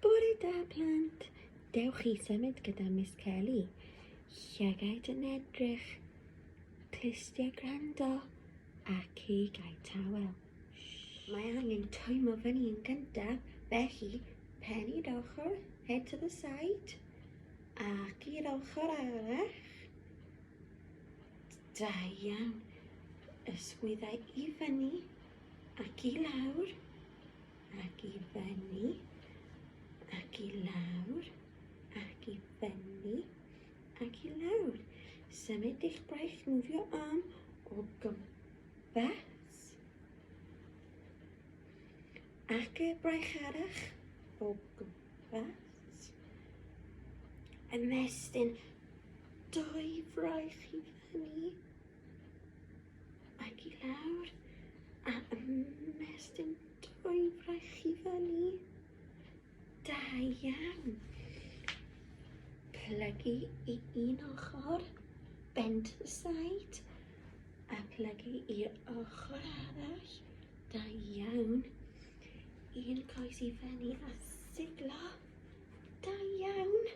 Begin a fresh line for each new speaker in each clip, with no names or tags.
Bore da plant, dewch i symud gyda Miss Kelly. Llygaid yn edrych, clustiau gwrando ac i gael tawel. Mae angen twymo fyny yn gyntaf, felly pen i'r ochr, head to the side, ac i'r ochr arall. Da iawn, ysgwyddau i fyny ac i lawr. ac i fyny, ac i lawr, ac i fyny, ac i lawr. Symud eich braich nofio am o gwmpas, ac y braich arach o gwmpas. Ymestyn dwy fraich i fyny, Ac i lawr, a ymestyn dwy fraich i fyny. Da iawn. Plygu i un ochr, bend to the side, a plygu i'r ochr arall. Da iawn. Un coes i fyny a siglo. Da iawn.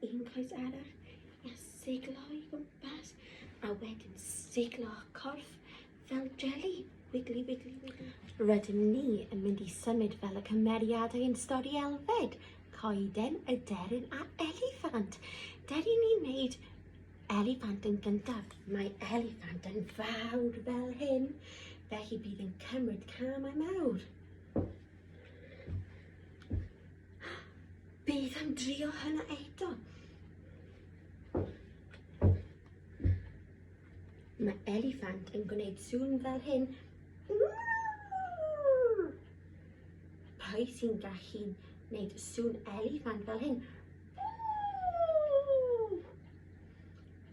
Un coes arall a siglo i gwmpas a wedyn siglo corff fel jelly. Wiggly, wiggly, wiggly. Rydym ni yn mynd i symud fel y cymeriadau yn stori Elfed, coeden, y deryn a eliffant. Deri ni wneud eliffant yn gyntaf. Mae eliffant yn fawr fel hyn, felly bydd yn cymryd camau mawr. Bydd yn drio hynna eto. Mae eliffant yn gwneud sŵn fel hyn. Pwy sy'n gallu wneud sŵn eliffant fel hyn?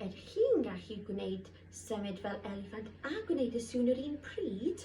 Yr chi'n gallu gwneud symud fel eliffant a gwneud y sŵn yr un pryd.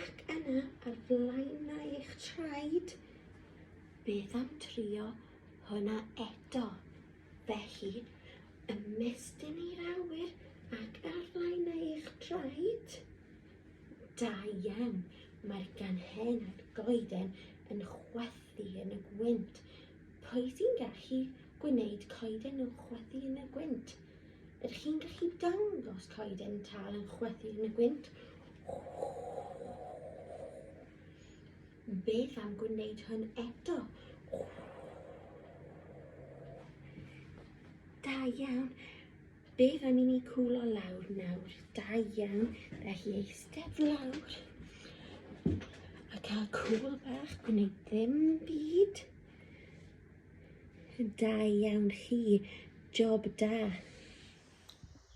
Ac yna ar flaenau eich traed, beth am trio hwnna eto? Felly, ymestyn i'r awyr ac ar flaenau eich traed. Da iawn, mae'r ganhen a'r goeden yn chwethu yn y gwynt. Pwy sy'n gallu gwneud coeden yn chwethu yn y gwynt? Ydych chi'n gallu dangos coeden tal yn chwythu yn y gwynt? Beth am gwneud hwn eto? Da iawn. Beth am i ni cwlo lawr nawr? Da iawn. Felly eistedd lawr. A cael cwl bach, gwneud ddim byd. Da iawn chi. Job da.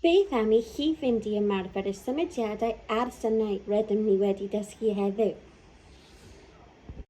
Beth am i chi fynd i ymarfer y symudiadau a'r synau rydym ni wedi dysgu heddiw?